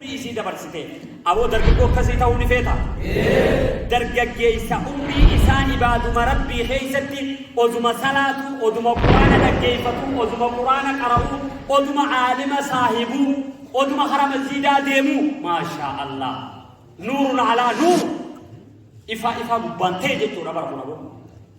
isii dabarsite. Aboo dargaggoo akkasii ta'uu ni feeta? Dargaggeessa umrii isaa ibaaduma Rabbii keessatti oduma salaatu, oduma Quraana dhaggeeffatu, oduma Quraana qara'u, oduma aalima saahibu, oduma hara masjiidaa deemu. Maashaa Allah. Nuurun alaa nuur. Ifaa ifaa gubbaan ta'e jechuudha bara kun aboo.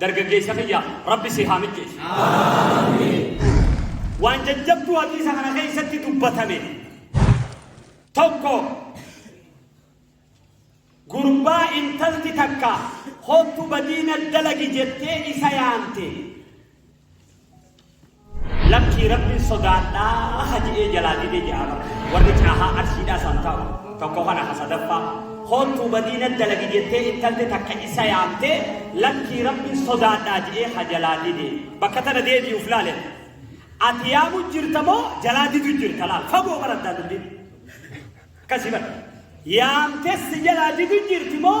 Dargaggeessa kiyya rabbi si haa mijjeessu. Waan jajjabduu hadiisa kana keessatti dubbatame tokko gurbaa intalti takka hottu badiina dalagi jettee isa yaamte. Lakkii Rabbiin sodaadhaa ha je'ee jalaa dide je'aa bar warri caahaa Arsiidhaa san ta'u tokko kana ka sadaffaa koottuu badii na dalagi jettee intalti takka isa yaamtee lakkii Rabbiin sodaadhaa je'ee ha jalaa dide bakka tana deebi'u uf laale ati yaamu jirta moo jalaa didu jirta laal fagoo bara addaa dubbi akkasii bara yaamtee si jalaa didu jirti moo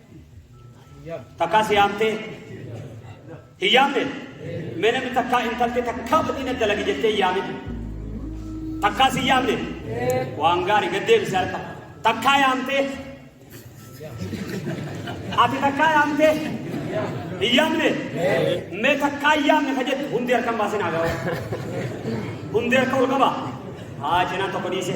Takkaa si yaamtee? Hin yaamne? Mee namni takkaa intaltee takkaa badii na dalagi jettee hin yaamin. Takkaa si yaamne? Waan gaarii gad deebisi harka. Takkaa yaamtee? Ati takkaa yaamtee? Hin yaamne? Mee takkaa hin yaamne ka jettu hundi harkan baasee naa gahu. Hundi harka ol qaba. Haa cinaan tokko dhiise.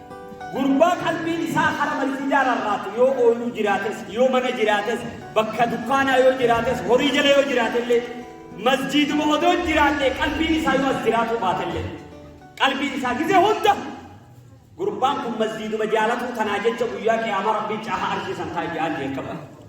Gurbaa qalbiin isaa hara masjiidaa rarraatu yoo ooluu jiraates, yoo mana jiraates, bakka dukkaanaa yoo jiraates, horii jala yoo jiraatellee, masjiiduma odoo jiraatee qalbiin isaa yoo as jiraatuu baatellee, qalbiin isaa gizee hunda gurbaan kun masjiiduma jaalatuu tanaa jecha guyyaa qiyaamaa rabbiin caaha arshii san taa'e ja'aan jeeqama.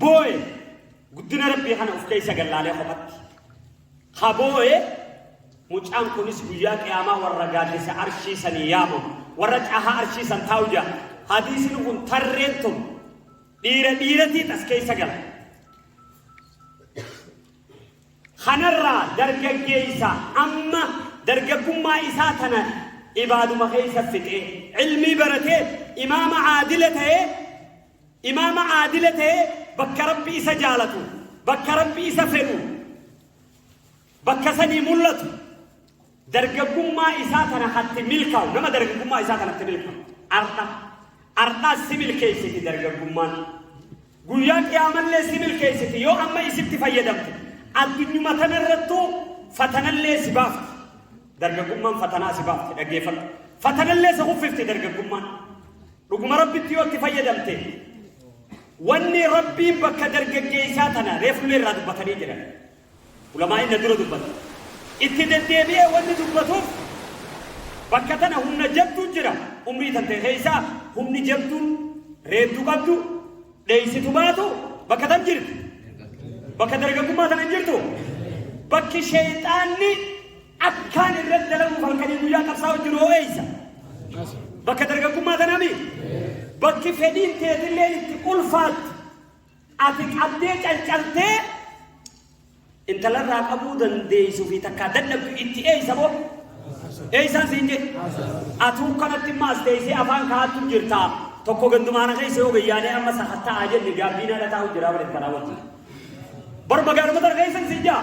Booye guddina rabbii kana of keessa gallaalee kophatti. Ha booye mucaan kunis guyyaa qiyaamaa warra gaaddisa arshii sanii yaamamu warra cahaa arshii san taa'u jaa hadiisni kun tarreen tun dhiira dhiiratiin as keessa gala. Kanarraa dargaggeessa amma dargaggummaa isaa tana ibaaduma keessa fixee ilmii baratee imaama aadila ta'ee Imaama aadila ta'e bakka Rabbi isa jaalatu, bakka Rabbi isa fedhu, bakka sanii mul'atu, dargaggummaa isaa tana hatti milkaa'u, nama dargaggummaa isaa tanatti milkaa'u. Arda, ardaa si milkeessiti dargaggummaan. Guyyaa qiyaamallee si milkeessiti yoo amma isitti fayyadamte. Addunyuma tanarrattuu fatanallee si baafti. Dargaggummaan fatanaa si baafti dhaggeeffadhu. Fatanallee si kuffifti dargaggummaan. Dhuguma rabbitti yoo itti fayyadamte wanni rabbiin bakka dargaggeessaa tana reefullee irraa dubbatanii jiran ulamaa inni dura dubbatu itti deddeebi'ee wanni dubbatuuf bakka tana humna jabduu jira umrii tante keessaa humni jabduun reeddu qabdu dheeysitu baatu bakka tan jirti bakka dargaggummaa tana hin jirtu bakki sheeyxaanni Akkaan irratti dalaguuf halkanii guyyaa qabsaa'u jiru hoo eessa? Bakka dargaggummaa tanami? Bakki fedhiin teetillee itti ulfaatti ati qabdee calcaltee intalarraa qabuu dandeessu fi takkaa dadhabdu itti eessa boo? Eessaan siin jedhe? Atuu kanatti immoo as teessee afaan kaa'attu jirtaa. Tokko gandumaana keessa yoo gayyaanee amma sakatta'aa jenne gaabbiin ala taa'u jira bareeffannaa wajjin. Bar magaalota dargaggeessan siin jaa?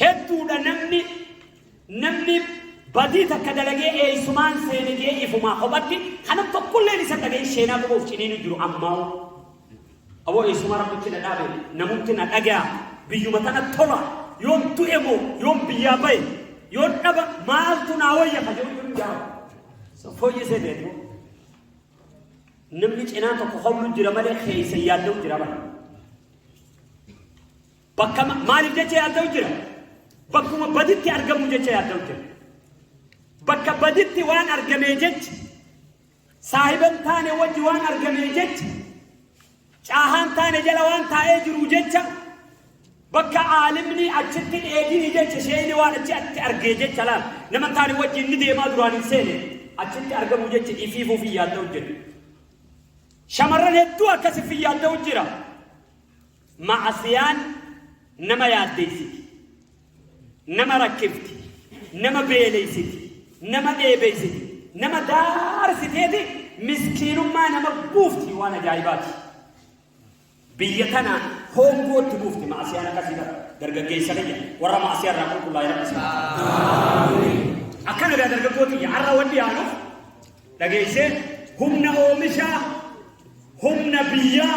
Hedduudha namni namni badii takka dalagee eeysumaan seene jee ifumaa kophatti kana tokkolleen isa dhaga'in sheenaa qofaaf ciniinu jiru ammaa aboo eeysumaa rabbitti na dhaabe namutti na dhagaa biyyuma tana tola yoon du'e moo yoon biyyaa bahe yoon dhaba maaltu naa wayya ka jedhu jiru jaara so fooyyisee beeku namni cinaa tokko hoblu jira malee keeysa yaadda'u jira malee Bakka ma- maaliif jecha yaadda'u jira? Bakkuma baditti argamu jecha yaadda'u jira. Bakka baditti waan argamee jecha, saahiba hin taane wajji waan argamee jecha, caahaan taane jala waan taa'ee jiru jecha, bakka aalimni achitti dheedini jecha, sheeyni waan achi atti argee jecha laal. Nama hin taane wajji inni deemaa duraan hin seene, achitti argamu jecha ifiifuuf hin yaadda'u jira. Shamarran hedduu akkasiif hin yaadda'u jira. Ma'asiyaan nama yaaddeessiti, nama rakkifti, nama beeleysiti, nama dheebeysiti, nama daarsiteeti miskiinummaa nama buufti waan ajaa'ibaati. Biyya tana hoongootti buufti ma'asiyaan akkasii ta'a. Dargaggeessa kiyya warra ma'asiyaa irraa qulqullaa'e rabbi isaa. Akkana gaa dargaggoo kiyya har'a wanni yaanuuf dhageessee humna oomishaa, humna biyyaa,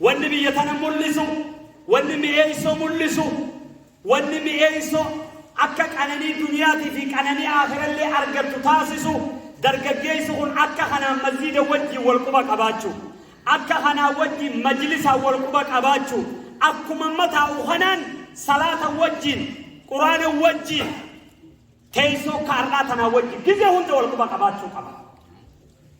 Wanni biyya tana mul'isu, wanni mi'eessoo mul'isu, wanni mi'eessoo akka qananii duniyaatii fi qananii aakhirallee argattu taasisu dargaggeessi kun akka kanaan masjiida wajjiin wal quba qabaachuu, akka kanaa wajjiin majlisaan wal quba qabaachuu, akkuma amma taa'u kanaan salaata wajjiin, quraana wajjiin, teessoo akka har'aa tanaa wajjiin gizee hunda wal quba qabaachuu qaba.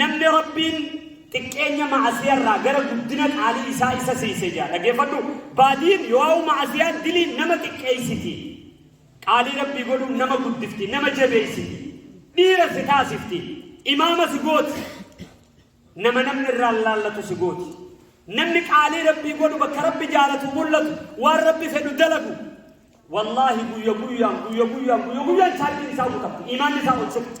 Namni Rabbiin xiqqeenya ma'asiyarraa gara guddina qaalii isaa isa siise jaa. Dhageeffadhu baadiin yoo'u ma'asiyaan diliin nama xiqqeessiti. Qaalii Rabbii godhuun nama guddifti, nama jabeessiti. Dhiira si taasifti. Imaama si gooti. Nama namni irraa laallatu si gooti. Namni qaalii Rabbii godhu bakka Rabbi jaalatu mul'atu waan Rabbi fedhu dalagu. Wallaahi guyya guyyaan guyya guyyaan guyya guyyaan chaarjiin isaa guutamti. Imaanni isaa ol siqti.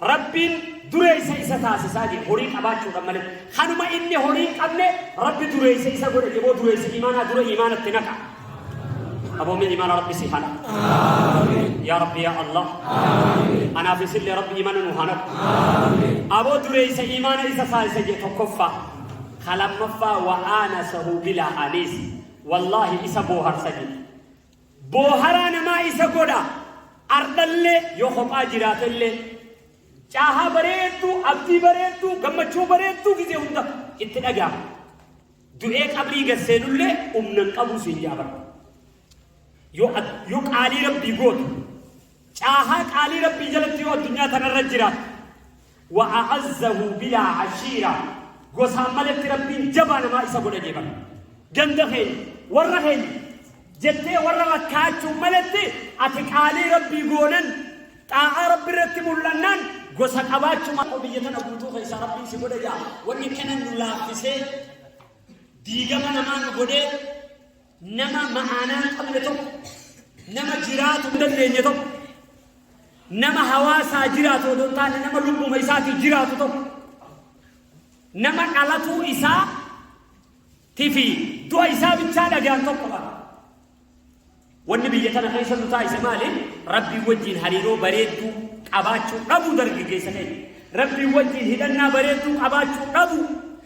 Rabbiin dureessa isa taasisaa jee horii qabaachuudhan malee kanuma inni horii hin qabne rabbi dureessa isa godhe jeboo dureessa imaanaa dura imaanatti naqa aboomin imaana rabbi si hana yaa rabbi yaa allah anaaf isillee rabbi imaana nu hana aboo dureessa imaana isa taasisa jee tokkoffaa kalammaffaa wa'aana sahuu bilaa aniis wallaahi isa booharsa jee Booharaa namaa isa godha. Ardhallee yoo kophaa jiraatellee caahaa bareedduu, abdii bareedduu, gammachuu bareedduu gizee hunda itti dhaga'a. Du'ee qabrii gad seenullee humna hin qabu siin jaabara. Yoo yoo qaalii rabbii gootu Caahaa qaalii Rabbii jalatti yoo addunyaa tanarra jiraate, wa a'azzahu bilaa ashiira, gosaan maletti Rabbiin jabaa namaa isa godha jee bara. Ganda keenya, warra keenya jettee warra rakkaachuun maletti ati qaalii Rabbii goonan, xaa'aa Rabbi irratti mul'annaan gosa qabaachuma akka biyya tana guutuu keessaa Rabbiin si godha jaa. Wanni kana nu laaffisee diigama namaa nu godhee nama ma'aanaa hin qabne tokko, nama jiraatu hin dandeenye tokko, nama hawaasaa jiraatu odoo hin taane nama lubbuma isaatii jiraatu tokko, nama dhalatuu isaa tifi du'a isaa bichaa dhagaan tokko qaba. Wanni biyya tana keessa nu taasise maali? Rabbii wajjin hariiroo bareedduu qabaachuu dhabuu dargaggeessa keenya. Rabbii wajjin hidhannaa bareedduu qabaachuu dhabuu.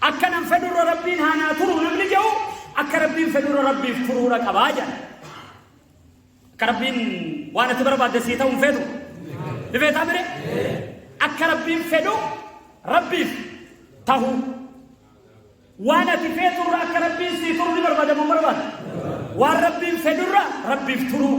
Akkanan fedhurra Rabbiin haa naa turuu namni jedhu akka Rabbiin fedhurra Rabbiif turuudha qabaa jedha. Akka Rabbiin waan ati barbaadde sii ta'uun fedhu. Ni beektaa mire? Akka Rabbiin fedhu Rabbiif ta'uu. Waan ati feeturra akka Rabbiin sii turu ni barbaadamu barbaada. Waan Rabbiin fedhurra Rabbiif turuu.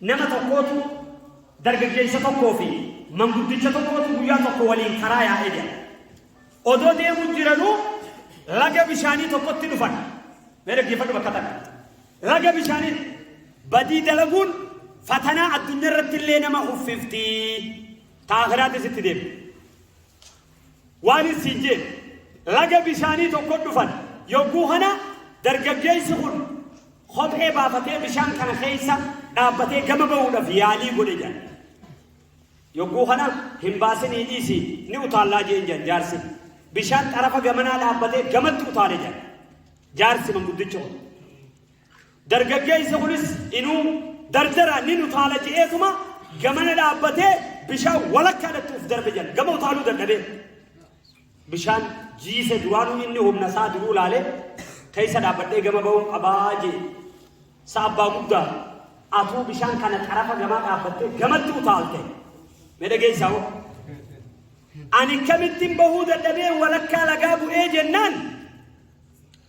Nama tokkootu dargaggeessa tokkoo fi manguddicha tokkootu guyyaa tokko waliin karaa yaa'ee jira. Odoo deemuu jiranuu laga bishaanii tokkotti dhufan. Mee dhaggeeffadhu bakka takka. Laga bishaanii badii dalaguun fatanaa addunyaa irratti illee nama uffifti. Taakiraattis itti deema. Waan issiin jeen, laga bishaanii tokkot dhufan, yogguu kana dargaggeessi kun kophee baafatee bishaan kana keessa dhaabbatee gama ba'uudhaf yaalii godhe jedhan. Yogguu kana hin baasinii dhiisi ni utaallaa jeen jedhan jaarsi. Bishaan xarafa gamanaa dhaabbatee gamatti utaale jedhan. Jaarsi manguddichi kun. Dargaggeessi kunis inuu dardara nin utaala je'eetuma gamana dhaabbatee bishaan walakkaadhatti uf darbe jedhan. Gama utaaluu dadhabee bishaan jiise duraanuu inni humna isaa duruu laalee keessa dhaabbadhee gama ba'uun qabaa jee. Sa abbaa guddaa atuu bishaan kana xarafa gamaa dhaabbattee gamatti utaalte. Mee dhageessaa hoo? Ani kamittiin bahuu dadhabee walakkaa lagaa bu'ee jennaan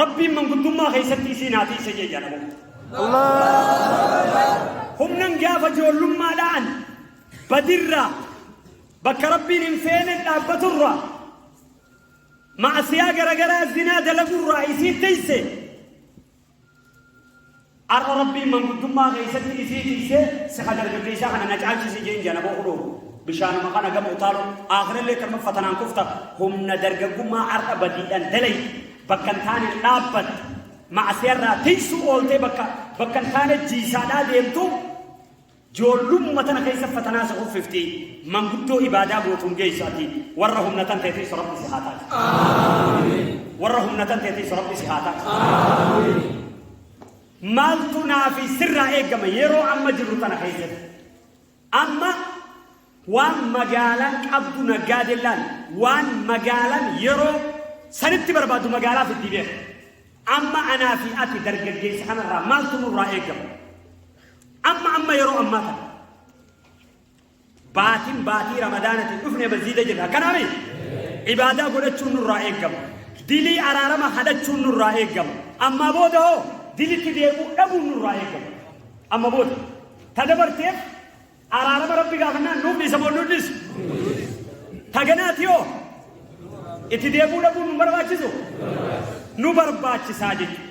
Rabbiin manguddummaa keessatti isiin haa tiise jee jedhama. Humnan gaafa joollummaadhaan badirraa bakka rabbiin hin feene dhaabbaturraa maasiyaa garagaraa zinaa dalagurraa isiin tiise. Arra Rabbiin manguddummaa keessatti isii tiysee siha dargaggeeysaa kana na caalchisi je'een je'an aboo kunoo bishaanuma kana gama utaaluun aakhirallee tanuma fatanaan kufta humna dargaggummaa arra badiidhan dalayde bakka hin taaneen dhaabbatte ma'asiyarraa tiysuu ooltee bakka bakka hin taane jiisaadhaa deemtu Joollummuma tana keessa fatanaa si kuffifti, manguddoo ibaadaa gootuun geessu ati, warra humna tan teetiis Rabbi si haa taasisu. Warra humna tan teetiis Rabbi si haa taasisu. Maaltu naa fi sirraa eegama yeroo amma jirru tana keessatti? Amma waan magaalaan qabdu naggaadellaan waan magaalaan yeroo sanitti barbaadu magaalaa fiddii beeka. Amma anaa fi ati dargaggeessa kanarraa maaltu nurraa eegama? Amma amma yeroo ammaa kana baatiin baatii ramadaanatiin dhufne masjiida jirra akkanaami ibaadaa godhachuun nurraa eegama dilii araarama hadhachuun nurraa eegama ammaa booda hoo dilitti deebi'uu dhabuun nurraa eegama amma booda ta dabarteef araarama rabbi gaafannaan nuuf dhiisa moo nuuf dhiisu taganaati hoo itti deebi'uu dhabuun nu barbaachisu nu barbaachisaa jechuudha.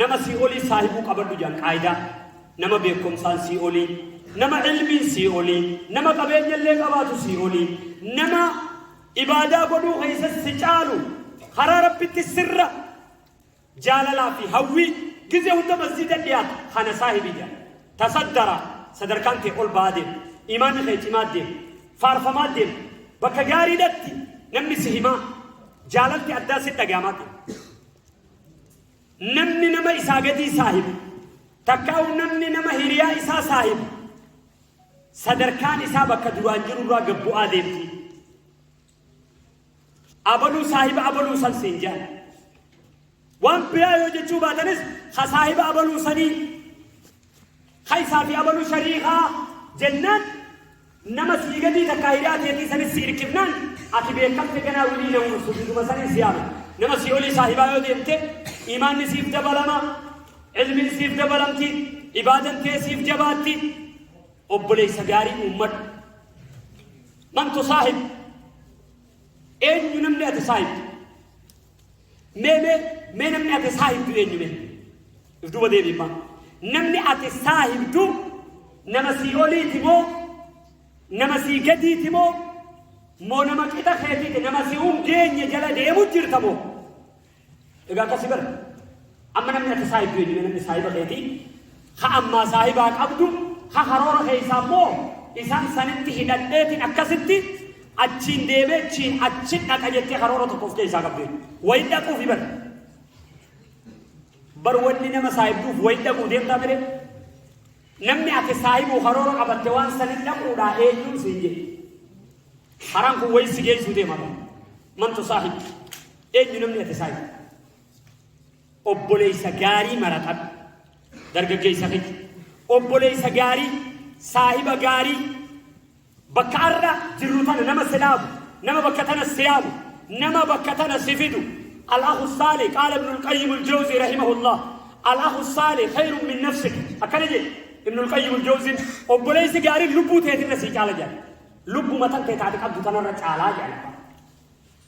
Nama sii'olii saahibuu qabadhu jedhan qaayidaa. Nama beekkomsaan sii'olii, nama ilmiin sii'olii, nama qabeenyallee qabaatu sii'olii, nama ibaadaa godhuu keessatti si caalu karaa rabbitti sirra jaalalaa fi hawwii gizee hunda masjiida dhiyaatu kana saahibii jedhan. Tasaddara sadarkaan kee ol ba'aa deema. Imaanni kee cimaa deema. Faarfamaa deema. Bakka gaariidhatti namni si himaa jaalalti addaa si dhagahamaa deema. Namni nama isaa gadii saahibu takkaa'u namni nama hiriyaa isaa saahibu sadarkaan isaa bakka duraan jiru irraa gad bu'aa deemti. Abaluu saahiba abaluu san siin jedhan. Waan biraa yoo jechuu baatanis ha saahiba abaluu sanii Hay isaa fi abalu shariikaa jennaan nama sii gadii takkaa hidhaa teetii sanis si irkifnaan ati beekamte ganaa wilii na uursu biduma sanin si yaama nama sii olii saahibaa yoo deemte imaanni siif dabalama ilmiin siif dabalamti ibaadan tee siif jabaatti obboleessa gaarii uummadhu man tusaahib eenyu namni ati saahibdu Mee mee mee namni ati isaa himtu eenyu mee? If duuba deebiin maa. Namni ati isaa himtu nama sii oliiti moo nama sii gadiiti moo moo nama qixa keetiiti nama si hin geenye jala deemu jirta moo? Egaa akkasi bara. Amma namni ati saahibdu eenyume namni saahiba keetii ha ammaa saahibaa qabdu ha haroora keessaa immoo isaan sanitti hidhadheetiin akkasitti achiin deebee chiin achi dhaqa jettee haroora tokko of keessaa qabdu wayi dhaquuf hibar bar wanni nama saahibduuf wayi dhaquu deemtaa mire namni ati saahibuu haroora qabatte waan sanitti dhaquudhaa eenyuun siin jedhe haraan kun wayi si geessuu deemata mantu saahib eenyu namni ati saahibdu obboleessa gaarii maratadhu dargaggeessa keessa obboleessa gaarii saahiba gaarii bakka arra jirru tana nama silaafu nama bakka tana siyaafu nama bakka tana sifidu alaahu saale qaala ibnul qayyim aljawzi rahimahullah alaahu saale khayrun min nafsik akkana jedhe ibnul qayyim aljawzin obboleessi gaariin lubbuu teetirra sii caala jedha lubbuma tan tee taate qabdu tanarra caalaa jedha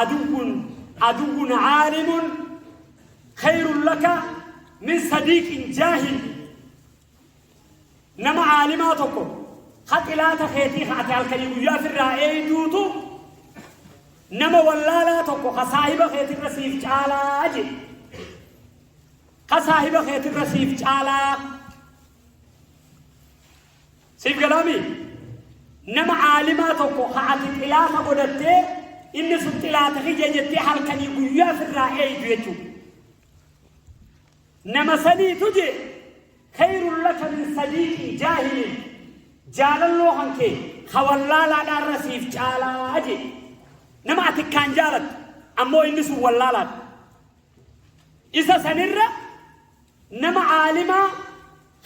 Aduwwun aduwwun aalimun khayrun laka min sadiiqin jaahil. Nama aalimaa tokko ha xilaata keetii ha ati halkanii guyyaa firraa eeyduutu nama wallaalaa tokko ha saahiba keetirra siif caalaa jedhe. Ha saahiba keetirra siif caalaa. Siif galaami nama aalimaa tokko ha ati xilaafa godhattee inni sun xilaata kiyya jettee halkanii guyyaa firraa eeydu jechuudha. Nama saniitu jee khayrun laka min sadiiqi jaahilin jaalalloo kan kee hawallaalaadhaa irra siif caalaa jee nama ati kaan jaalattu ammoo inni sun wallaalaadha. Isa sanirra Nama aalimaa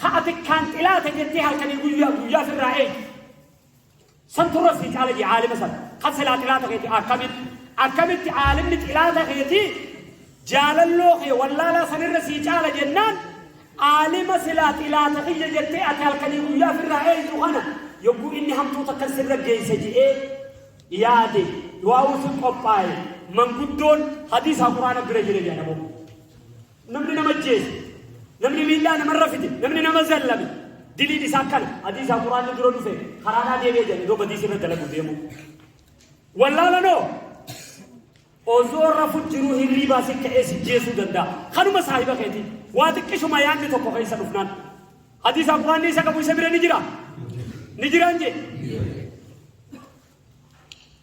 ka ati akkaan xilaata jettee halkanii guyyaa guyyaa firraa eeytu. Santu irra sii caala jee aalima san. Kan silaa xilaata keeti akkamitti? Akkamitti aalimni xilaata keeti jaalalloo kee wallaalaa san irra sii caala jennaan aalima silaa xilaata kiyya jettee ati halkanii guyyaa firraa eeytu kana yogguu inni hamtuu takka sirra geeyse je'ee yaade du'aa'uu sun qophaa'e manguddoon hadiisaa quraana bira jira jedha namoonni. Namni nama ajjeese, namni miidhaa namarra fide, namni nama zallame diliin isaa akkana. Hadiisaa Quraanni dura dhufe karaadhaa deebi'e jedhan yoo badiisa irra dalagu deemu. Wallaalanoo osoo rafu jiruu hirriibaa si ka'ee si jeesuu danda'a. Kanuma saahiba keetii waa xiqqishuma yaadni tokko keessa dhufnaan. Hadiisaa Quraanni isa qabu isa bira ni jira. Ni jiraan jee.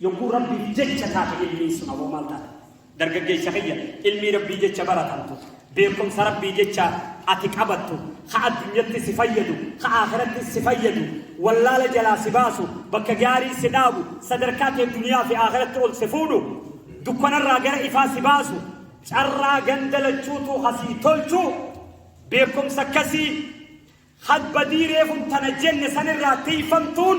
Yogguu Rabbiif jecha taate ilmiin sun aboo maal taate? Dargaggeessa kiyya ilmii Rabbii jecha baratamtu, beekumsa Rabbii jecha ati qabattu, ka addunyatti si fayyadu, ka aakhiratti si fayyadu, wallaala jalaa si baasu, bakka gaarii si dhaabu, sadarkaa kee duniyaa fi aakhiratti ol si fuudhu, dukkanarraa gara ifaa si baasu, carraa ganda lachuutu ha sii tolchu, beekumsa akkasii hadbadii reefun tana jenne sanirraa tiifamtuun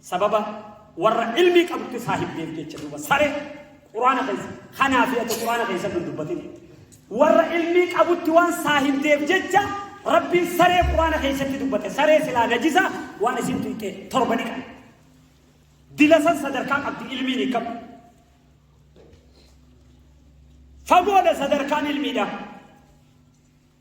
Sababa warra ilmii qabutti saahibdeef jecha duuba sare quraana keessa kanaa fi ati quraana keessa hin dubbatin warra ilmii qabutti waan saahibdeef jecha rabbiin saree quraana keessatti dubbate saree silaa najisa waan isin tuqe torba ni qabu dilasan sadarkaa qabdi ilmiin hin qabu fagoodha sadarkaan ilmiidha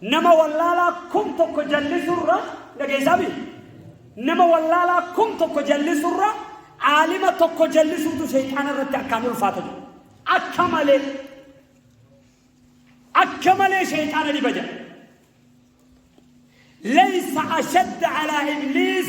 Nama wallaalaa kum tokko jallisurra dhageessaami. Nama wallaalaa kum tokko jallisurra aalima tokko jallisuutu sheexaana irratti akkaan ulfaata jiru. Akka malee akka malee sheexaana dhiba jira. Leeysa ashadda alaa ibliis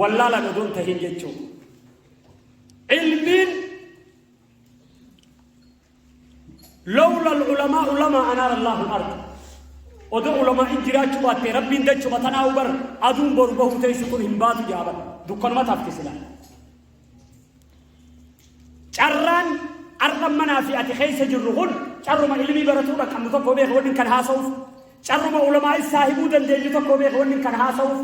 wallaalan odoo hin tahin jechuun ilmiin lawla alulamaa ulamaa anaara allahu alard odoo ulamaa in jiraachuu baatte rabbiin dachuma tanaa ubar aduun boru bahuu teessu kun hin baatu jaaba dukkanuma taafte silaa Carraan ar'a manaa fi ati keessa jirru kun carruma ilmii baratuu dhaqqabnu tokko beeka wanni kan haasa'uuf carruma ulamaa saahibuu dandeenyu tokko beeka wanni kan haasa'uuf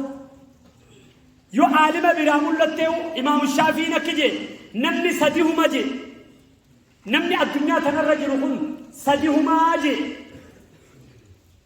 yoo aalima biraa mul'attee imaamu shaafiin akki jee namni sadi huma jee namni addunyaa kanarra jiru kun sadi humaa jee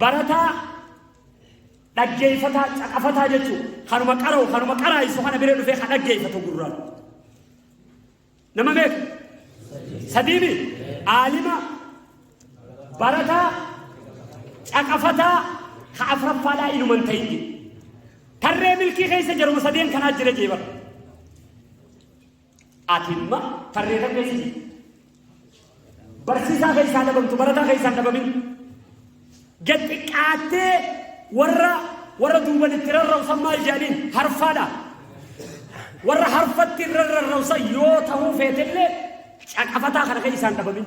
Barataa, dhaggeeffataa, caqafataa jechuun kanuma qara'u kanuma qaraa'isu kana bira dhufee ka dhaggeeffatu gurraan. Nama meeqa? Sadiimi? Aalima, barataa, caqafataa, ka afraffaadhaa inuman ta'inni. Tarree milkii keessa jaruma sadeen kanaa jira jeebara. Ati imma tarreetan beeksisi. Barsiisaa keessaa dhabamtu barataa keessaa hin dhabamin. Gad xiqqaattee warra warra duuban itti rarrausan maal jedhaniin harfaadha. Warra harfatti irra rarrausan yoo ta'uu feetellee caqafataa kana keessaa hin dhabamin.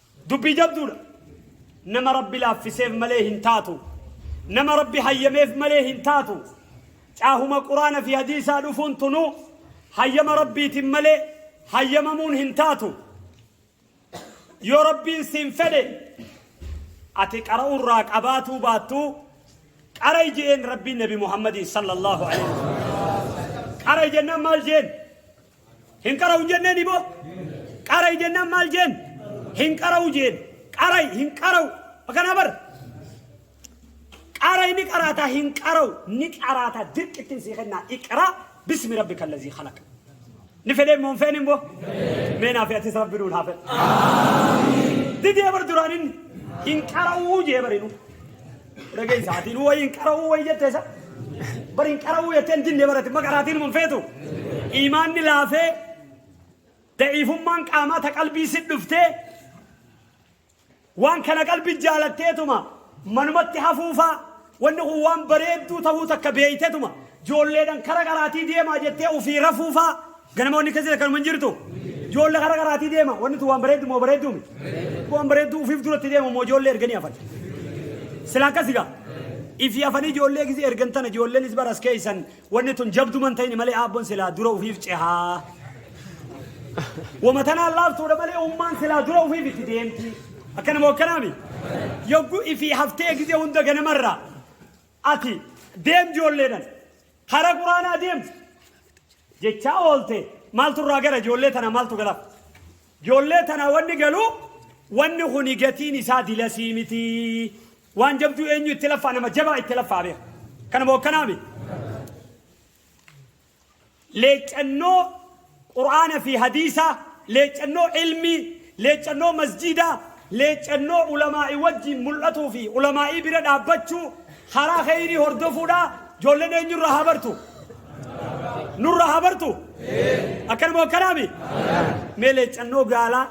Dubbii jabduudha. Nama Rabbi laaffiseef malee hin taatu. Nama Rabbi hayyameef malee hin taatu. Caahuma Quraana fi hadiisaa dhufuun tunu hayyama Rabbiitiin malee hayyamamuun hin taatu. Yoo Rabbiin siin fedhe ati qara'uurraa qabaatuu baattuu qara ijeen Rabbiin Nabi Muhammadiin sallallahu alaihi wasallam. Qara ijennaan maal jeen? Hin qara'u hin jenneen iboo? Qara'i jennaan maal jeen? Hin qara'u jeen. Qara'i hin qara'u. Akkanaa bar. Qara'i ni qaraata hin qara'u ni qaraata dirqittiin sii kennaa iqraa bismi rabbi kallazii khalaqa. Ni fedhee moo hin feene immoo? Mee naa fi atis rabbi nuun haa fedhu. Didee bar duraan inni hin qara'uu jee barinu. Dhageessa ati nu wayiin qara'uu wayi jettee sa bariin qara'uu jettee hin dinne barate maqaraatiin hin feetu imaanni laafee da'iifummaan qaamaa ta qalbii si dhuftee waan kana qalbi jaalatteetuma manumatti hafuufaa wanni kun waan bareedduu tahuu takka beeytetuma joolleedhan kara qaraatii deemaa jettee ofii rafuufaa Ganama wanni akkasii akkanuma hin jirtu. Joolla kara karaatii deema. Wanni tun waan bareeddu moo bareedduu mi? Waan bareedduu ufiif duratti deema moo joollee erganii hafan. Sila akkasi gaa. Ifi hafanii joollee gisee ergan tana joolleenis baras keessan wanni tun jabduman ta'ini malee aabbon silaa dura ufiif cehaa. Wama tanaan laaftuudha malee ummaan silaa dura ufiif itti deemti. Akkana moo akkanaami? Yogguu ifi haftee gisee hunda ganamarraa. Ati deem ijoolleedhan hara quraanaa deem jechaa oolte maaltu irraa gara ijoollee tana maaltu galaaf ijoollee tana wanni galuu wanni kuni gatiin isaa dilasii miti waan jabduu eenyu itti laffaa nama jabaa itti laffaa beeka kanuma hokkanaami leeccannoo qur'aana fi hadiisaa, leeccannoo ilmii, leeccannoo masjiidaa, leeccannoo ulamaa'ii wajjiin mul'atuu fi ulamaa'ii bira dhaabbachuu, karaa kheyrii hordofuudha, joollen eenyu irraa haa bartu? Nurraa haa bartu? Akkanuma akkanaami? Mee leeccannoo gaalaa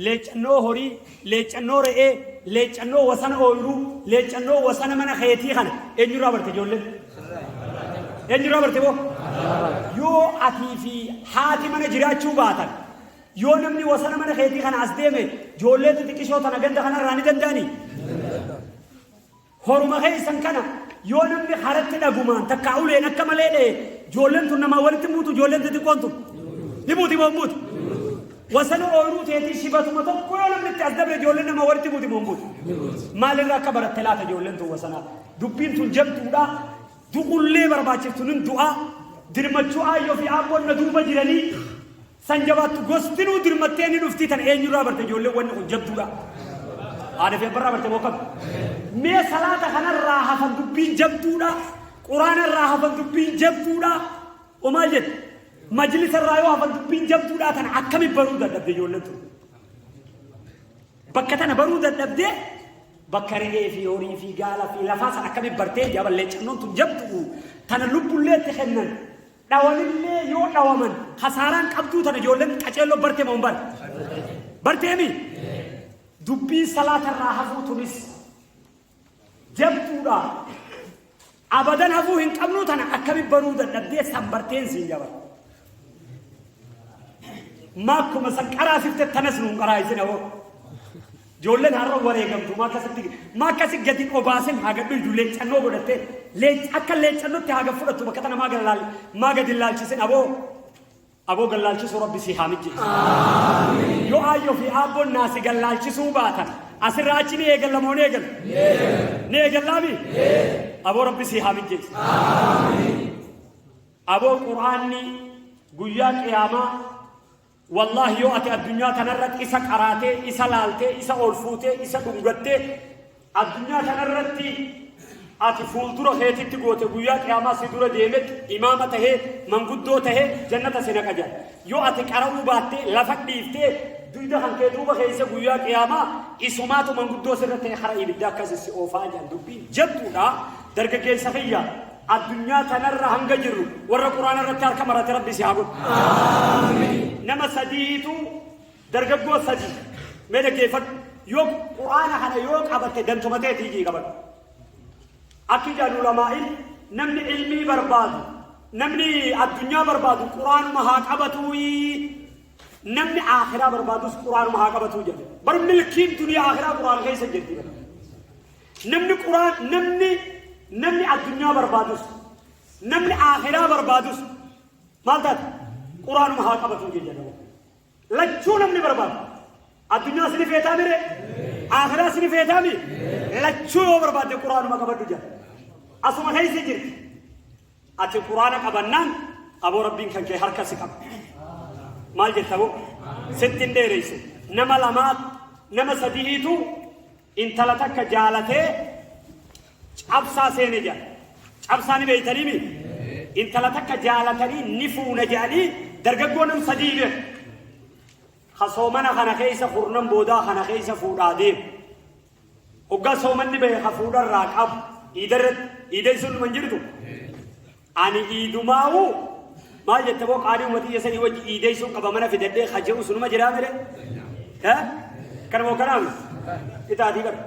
leeccannoo horii, leeccannoo re'ee, leeccannoo wasana ooyruu, leeccannoo wasana mana keetii kana eenyurraa barte ijoolleen? Eenyurraa barte boo? Yoo atii fi haati mana jiraachuu baatan, yoo namni wasana mana keetii kana as deeme, ijoollee xixiqqishoo tana ganda kanarraa ni danda'anii? Horuma keessan kana yoo namni haratti dhagumaan takkaa uleen akka malee dha'e joolleen tun namaa walitti hin buutu joolleen xixiqqoon tun. Ni buuti moo hin buutu? Wasana ooyiruu teetii shibatuma tokko yoo namni itti as dabre joolleen namaa walitti buuti moo hin buutu? Maalirraa akka baratte laata joolleen tun wasanaa? Dubbiin tun jabduudha. Du'ullee barbaachiftu nin du'aa. Dirmachuu aayyoo fi aabboon na duuba jiranii. San jabaattu gostinuu dirmattee ni dhuftii tan eenyurraa barte ijoolleen wanni kun jabduudha. Haadha fi abbarraa barte moo kam? Mee salaata kanarraa hafan dubbiin jabduudha. Quraanarraa hafan dubbiin jabduudha. O maal jette? Majlisarraa yoo hafan dubbiin jabduudha tan akkami baruu dadhabde ijoolleen tun. Bakka tana baruu dadhabdee bakka re'ee fi horii fi gaala fi lafaa san akkami bartee jaaballee cannoon tun jabdu tana lubbullee itti kennan dhawanillee yoo dhawaman kasaaraan qabduu tana ijoolleen qaceelloo bartee moo hin bar barteemi dubbii salaatarraa hafuu tunis jabduudha abadan hafuu hin qabnuu tana akkami baruu dadhabdee san barteen siin jaba maakkuma san qaraasifte tanas nuun qaraayisina hoo Ijoolleen har'a wareegamtu maa akkasitti maa akkasi gadi obaasin haa gadhuydu leeccannoo godhattee leec akka leeccannootti haa gad fudhattu bakka tana maa gallaal maa gadi laalchisin aboo aboo gallaalchisuu rabbi si haa mijjeessu. Yoo aayyoo fi aabboon naa si gallaalchisuu baatan asirraa achi ni eegalla moo ni eegalla? Ni eegallaami? Aboo rabbi si haa mijjeessu. Aboo quraanni guyyaa qiyaamaa Wallahi yoo ati addunyaa tanarratti isa qaraatee, isa laaltee, isa ol fuutee, isa dhungattee, addunyaa tanarratti ati fuuldura keetitti goote guyyaa qiyaamaa si dura deemetti imaama tahee manguddoo tahee jannata si naqa jedha. Yoo ati qara'uu baattee lafa dhiiftee duyda kan kee duuba keessa guyyaa qiyaamaa isumaatu manguddoo sirra ta'e hara ibiddaa akkasi si oofaa jedhan dubbii jabduudha dargaggeessa kiyya. Addunyaa tanarra hanga jirru warra Qur'aana irratti harka marate Rabbi si haa godhu. Nama sadiitu dargaggoo sadii mee dhaggeeffadhu yoo Qur'aana kana yoo qabatte dantumatee tiijii qabadhu. Akki jedhan ulamaa'iin namni ilmii barbaadu namni addunyaa barbaadu Qur'aanuma haa qabatuu namni akhiraa barbaadus Qur'aanuma haa qabatuu jedhe. Bar milkiin duniyaa akhiraa Qur'aana keessa jirti. Namni Quraan namni namni addunyaa barbaadus namni aakhiraa barbaadus maal taate Quraanuma haa qabatu jedhama. Lachuu namni barbaadu addunyaa sini feetaa mire aakhiraa sini feetaa mi lachuu yoo barbaadde Quraanuma qabadhu jedha. Asuma keessa jirti. Ati Quraana qabannaan aboo Rabbiin kan kee harka si qaba. Maal jetta boo? Sitti hin dheereysu. Nama lamaa nama sadihiitu Intala takka jaalatee cabsaa seene jedhan. Cabsaa ni beeytanii mi? Intala takka jaalatanii ni fuuna jedhanii dargaggoo nam sadii beeku. Ka soomana kana keessa kurnan boodaa kana keessa fuudhaa deemu. Hoggaa soomanni bahe ka fuudharraa qabu iidarratti iidan sun hin jirtu. Ani iidumaa'uu maal jette boo qaalii uummatii jasanii wajji iideessuun qaba mana fidadhee ka jedhu sunuma jiraa mire? Kana moo kanaa mi? Itaatii bara.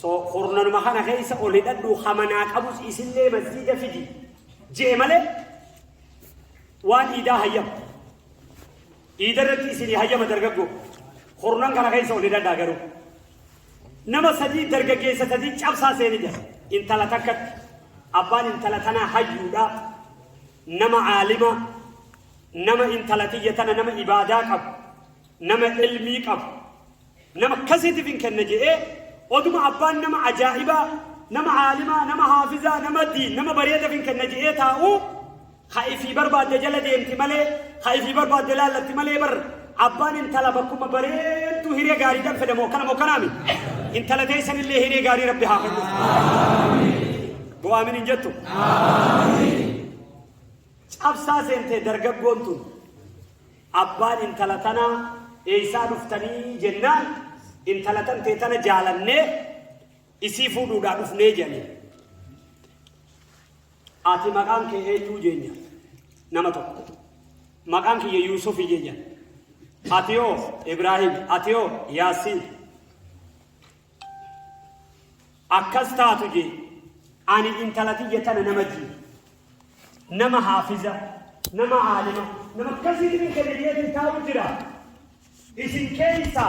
So kurnanuma kana keessa ol hidhadhu hamanaa qabus isillee masjiida fidi jee malee waan iidaa hayyama. Iidarratti isinii hayyama dargaggoo. Kurnan kana keessa ol hidhadhaa garuu. Nama sadii dargaggeessa sadii cabsaa seene jira. Intala takkatti. Abbaan intala tanaa hayyuudha. Nama aalima. Nama intala tiyya tana nama ibaadaa qabu. Nama ilmii qabu. Nama akkasiitiif hin kenna jedhee oduma abbaan nama ajaa'ibaa nama aalimaa nama haafizaa nama diin nama bareedaaf hin kenna jedhee taa'u Ka ifii barbaadde jala deemti malee, ka ifii barbaadde laallatti malee bar abbaan intala bakkuma bareedduu hiree gaariidhaan fedha moo akkana moo kanaami? Intala teessanillee hiree gaarii rabbi haa kennu. Goo aamin hin jettu? Cabsaa seentee dargaggoon tun abbaan intala tanaa eeysaa dhuftanii jennaan intala tan tee tana jaalannee isii fuudhuudhaa dhufnee jennee. Ati maqaan kee eenyuu jeen jedha. Nama tokko. Maqaan kiyya Yuusufi jeen jedha. Ati hoo Ibraahim, ati hoo Yaasiin. Akkas taatu jee ani intala tiyya tana nama jii. Nama haafiza, nama aalima, nama akkasiitiin kenna jeetiin taa'u jira. Isin keeysaa.